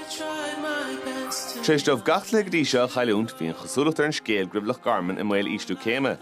Tar éis dóibh gach cluiche go dtí seo a chailliúint, bhí an chosúlacht ar an scéal go raibh Loch Garman i mbaol ísliú céime.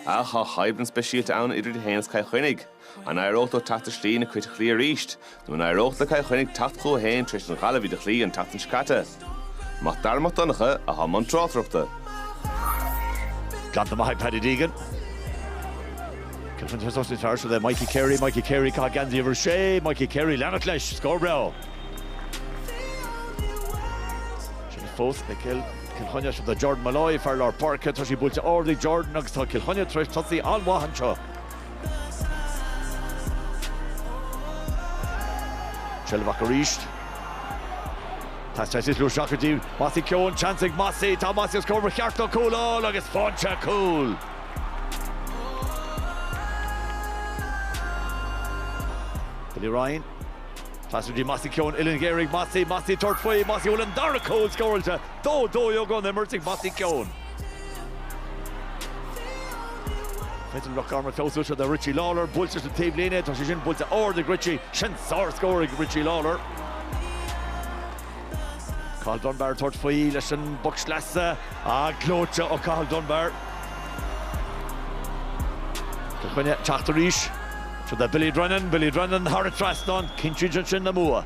Ach tá coimhlint speisialta ann idir iad féin agus Cill Chainnigh. An éireodh leo teacht aniar aduaidh ar na Cait arís? Nó an éireodh le Cill Chainnigh teacht chucu féin tar éis don Ghaillimh iad a chloí an tseachtain seo caite? Mac Dara Mac Donncha a chuaigh i mbun tráchtaireachta. Ganntan maith ag Paddy Deegan. Kilfin Thursday Thursday le Mikey Carey, Mikey Carey cá gan díomh sé, Mikey Carey leanach leis, scór breá. Sin fós é Cill Cill Chainnigh sin do Jordan Molloy, fear lár páirce. Tá sé buailte ard ag Jordan agus tá Cill Chainnigh tar éis tosaí an-mhaith anseo. Treilfeadh Mac arís. Teastáil Sisley ó seacht go dtí Mossy Keoghan, seans ag Mossy, tá Mossy os comhair ba cheart dó cúl a fháil agus faighte cúl. Billy Ryan. Pas go dtí Mossy Keoghan uillinn ghéar ag Mossy, Mossy ag tabhairt faoi, Mossy a bhfuil an dara cúl scóráilte dó, togha na himeartha ag Mossy Keoghan. Clinton Loch Garman Seo do Richie Lawlor, buailte leis an taobhlíne, tá sé sin buailte ard ag Richie, sin sár-scór ag Richie Lawlor. Cathal Dunbar ag tabhairt faoi leis an bpoc sleasa a gleoite ó Cathal Dunbar. Cill Chainnigh ag teacht arís. Seo do Billy Drennan, Billy Drennan thar an trasnán, cinntíonn sé sin an bua.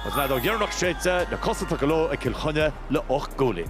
Agus an fheadóg dheireanach séidte, na cosa tugtha leo ag Cill Chainnigh le ocht gcúilín.